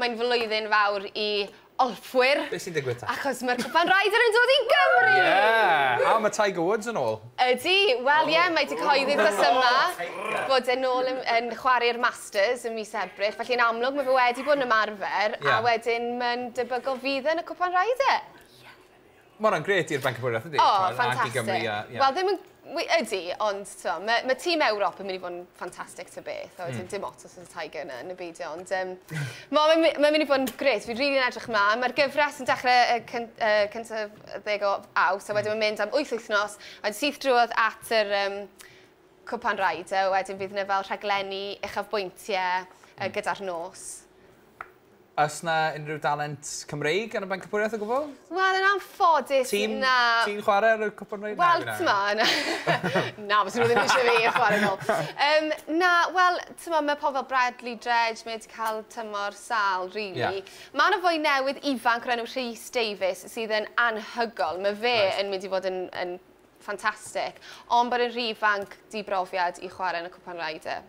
Mae'n flwyddyn fawr i olffwyr. Be sy'n digwydd ta? Achos mae'r Cwpan Ryder yn dod i Gymru! Yeah! A mae Tiger Woods yn ôl. Ydy, wel ie, mae 'di cyhoeddi dros yma bod e'n ôl yn yn chwarae'r Masters ym mis Ebrill, felly yn amlwg mae fe wedi bod yn ymarfer a wedyn mae'n debygol fydd e yn y Cwpan Ryder. Ie. Ma' wnna'n grêt i'r Banc y Bwriad yndi? O, ffantastic. Ac i Gymru a... Wel, ddim yn... Ydy, ond twa, mae ma tîm Ewrop yn mynd i fod yn ffantastic ta beth, a wedyn mm. dim ots os ydy'r Tiger yna yn y beidio, ond um, mae'n ma, ma mynd i fod yn grêt, fi'n rili'n really edrych ymlaen. Mae'r gyfres yn dechrau y cyn, uh, cyntaf ddeg o aws, a wedyn mm. mae'n mynd am wyth wythnos, a wedyn syth drwodd at yr um, cwpan raid, a wedyn fydd yna fel rhaglenni uchafbwyntiau uh, gyda'r nos. Oes 'na unrhyw dalent Cymreig yn y Bencampwriaeth o gwbl? Wel, yn anffodus, na. Ti'n chwarae ar y Cwpan Cymreig? Wel, t'mod, na. Na, fyswn nhw ddim eisiau fi chwarae nôl. Um, na, wel, t'mod, mae pobl fel Bradley Dredge, mae wedi cael tymor sal, really. Yeah. Mae yna fwy newydd ifanc o'r enw Rhys Davies sydd yn anhygol. Mae fe right. yn mynd i fod yn, yn ffantastig. Ond bod yn rhy ifanc di brofiad i chwarae yn y Cwpan Ryder.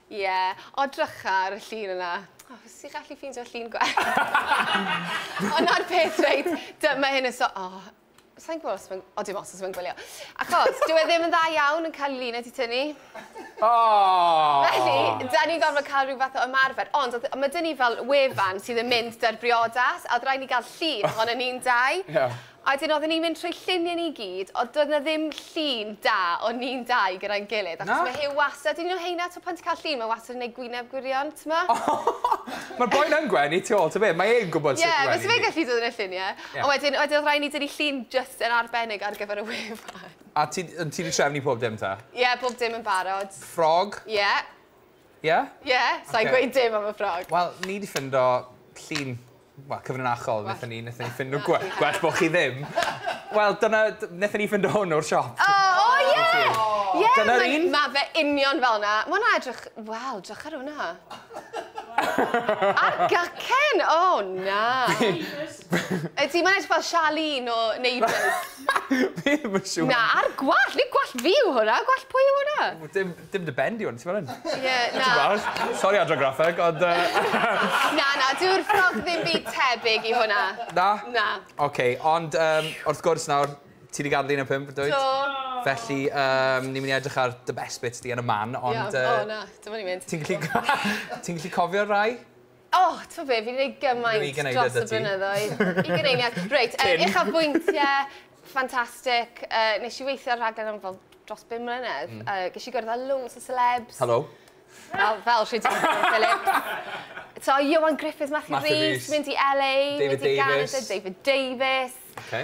Ie, o drycha ar y llun yna. O, fes i gallu ffeindio llun gwell. Ond na'r peth reit, dyma hyn yn so... O, sa'n gwybod os mae'n... O, dim os os mae'n gwylio. Achos, dyw e ddim yn dda iawn yn cael lun wedi tynnu. O! Felly, da ni'n gorfod cael rhyw fath o ymarfer. Ond, mae dyn ni fel wefan sydd yn mynd da'r briodas, a oedd rhaid ni gael llun ohono ni'n dau. Ie. A wedyn oedden ni'n mynd trwy lluniau ni gyd, ond doedd 'na ddim llun da o ni'n dau gyda'n gilydd. Na? Achos ma' Huw wastad, un o heina, t'mo' pan ti'n cael llun, mae wastad yn gwneud gwyneb gwirion, t'mo'? Ma'r boi'n yn gwenu tu ôl, ta be? Mae e'n gwbod sut i wenu ni. Ie, fyse fe'n gallu dod yn y llunie. Ie. Ond wedyn, wedyn odd raid ni dynnu llun jyst yn arbennig ar gyfer y wefan. A ti, ond ti 'di trefnu pob dim ta? Ie, bob dim yn barod. Ffrog? Ie. Ie? Ie, sai'n gweud dim am y ffrog. Wel, ni 'di ffindo llun Wel, cyfrinachol, wnaethon ni, wnaethon ni ffindo gwe- gwell bod chi ddim. Wel, dyna, d- wnaethon ni ffindo hwn o'r siop. O, o, ie! Ie, Dyna'r mae- un? Mae fe union fel na. Mae hwnna edrych... Wel, drych ar hwnna. Ar gycen! O, na. Ydy, mae'n edrych fel Charlene o Neighbours. Fi ddim yn siŵr. Na, ar gwallt. Neu gwallt fi yw hwnna. Gwallt pwy yw hwnna? Dim, Dim dy ben di ond ti fel hyn. Ie, na. Tipyn bach. Sori Adran Graffeg, ond yy... Na, na, dyw'r ffrog ddim byd tebyg i hwnna. Na? Na. Oce, ond yym, wrth gwrs nawr, ti 'di gadel un o'r pump, dwyt? Do. Felly, yym, ni'n mynd i edrych ar dy best bits di yn y man, ond yy... Iawn, o na, dyma ni'n mynd. Ti'n gallu ti'n gallu cofio'r rhai? O, t'bo' be', fi 'di neud gymaint... Dwi 'di gneud e 'da ti. ...dros y blynyddoedd. Ugen eiliad. Reit, yy... Cyn. ...uchafbwyntie, ffantastic. Yy nesh i weithio ar raglen am fel dros bum mlynedd. Hmm. Yy gesh i gwrdd â loads o selebs. Helo. Fel fel rhei ti'n gwrdd â Philip. So Ioan Gruffydd, Matthew Rees. Matthew Rees. Mynd i El Ay. David Davies. Mynd i Ganada, David Davies. Oce.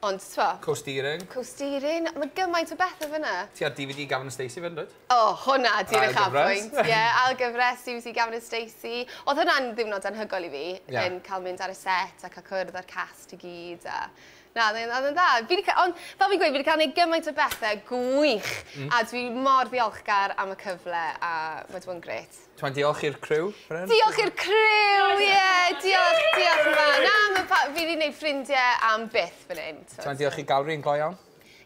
Ond t'mo'... Co-steering. Co-steering, ma' gymaint o bethe fyn 'na. Ti ar DVD Gavin and Stacey 'fyd yndwyt? O, hwnna 'di'r uchafbwynt. Ail gyfres. Ie, ail gyfres DVD Gavin and Stacey. O'dd hwnna'n ddiwrnod anhygoel i fi... Ie. ...yn ca'l mynd ar y set a ca'l cwrdd â'r cast i gyd a... Na, o'dd e'n o'dd e'n dda. Fi 'di ca- on', fel fi'n gweud, fi 'di ca'l neud gymaint o bethe gwych... Hmm. ...a dwi mor ddiolchgar am y cyfle a ma' 'di bod yn grêt. Twa'n diolch i'r criw, Bren? Diolch i'r criw, ie! Yeah, diolch, diolch yn fawr. Na, mae pa... fi wedi gwneud ffrindiau am byth fan hyn. Twa'n diolch i Gawri yn go iawn.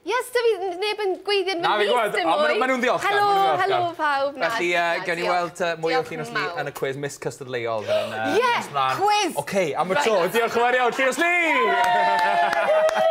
Yes, da fi neb yn gweithio yn fy mhlith dim mwy. Mae nhw'n ddiolch. Helo, helo pawb. Felly, gawn ni weld mwy o Llinos Lee yn y cwis Miss Custard Leol. Ie, cwis! Oce, am y tro, diolch yn fawr iawn, Llinos Lee!